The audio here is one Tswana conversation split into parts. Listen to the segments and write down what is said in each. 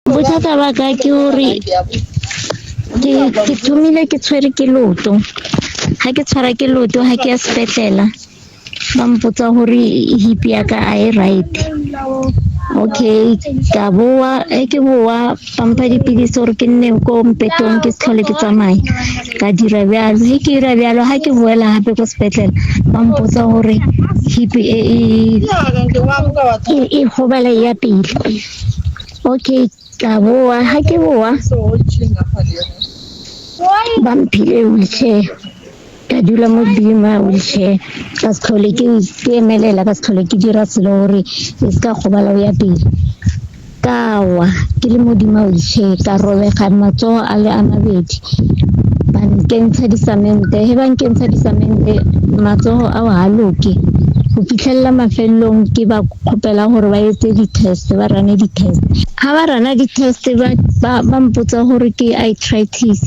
Bothata ba ka ke gore ke thomile ke tshwere ke loto ga ke tshwara ke loto ga ke ya sepetlela ba mpotsa gore hip ya ka a e right okay ka boa e ke boa ba mpha dipilisi gore ke nne ko mpetong ke se tlhole ke tsamaya ka dira bjalo ge ke dira bjalo ga ke boela gape ko sepetlela ba mpotsa gore hip e e gobala ya pele Okay, tla boa. Ha ke boa, ba mphile wheelchair. Ka dula mo godimo ya wheelchair. Ka se tlhole ke ke emelela, ka se tlhole ke dira selo gore e se ka gobala o ya pele. Ka wa, ke le mo godimo ga wheelchair, ka robega matsogo a le a mabedi. ba nkentsha disamente he ba nkentsha disamente matsogo ao ga loke go fitlhelela mafelelong ke ba kgopela gore ba etse di-test ba rane di-test ga ba rana di-test ba mpotsa gore ke itritis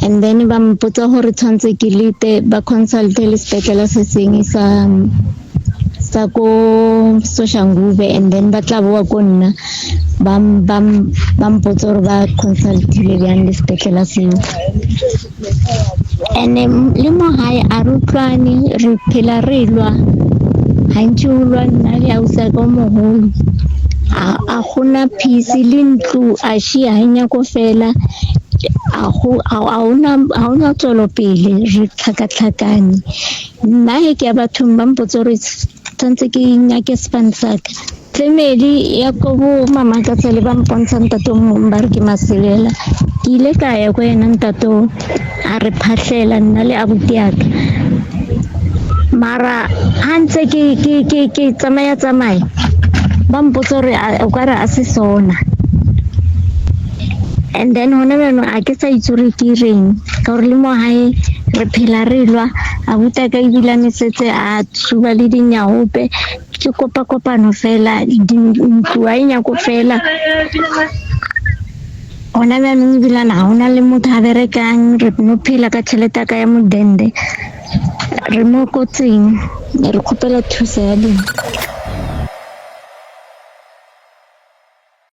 and then ba mpotsa gore tshwanetse ke lete ba consulte le sepetlele se sengwe sa tsa ko Soshangube and then ba tla boa ko nna ba m- ba m- ba mpotse gore ba consultile bjang le sepetlele seo and um, le mo gae a re utlwane re phela re lwa gantši o lwa nna le ausa ka o mogolo a a gona phisi le ntlo a shia ga nyako fela a go- a- a ona- a ona tswelopele re tlhakatlhakane nna he ke ya bathong ba mpotse gore tshwanetse ke nyake span saka family ya ko bo mama ka tsele ba mpontsha ntate o mongwe ba re ke maselela ke ile ka ya ko ena ntate o a re phatlhela nna le abuti yaka mara ha ntse ke ke ke ke tsamaya tsamaya ba mpotsa gore a- o ka re a se sona And then gone jaanong ga ke sa itse gore ke ireng ka gore le mo gae re phela re lwa abuta ka ebila mesetse a tshuba le dinyaope ke kopa kopano fela ntlo a e nyako fela gona jaanong ebilana ga ona le motho a berekang re no phela ka tšhelete ya ka ya modende re mo kotseng re kgopela thuso ya lena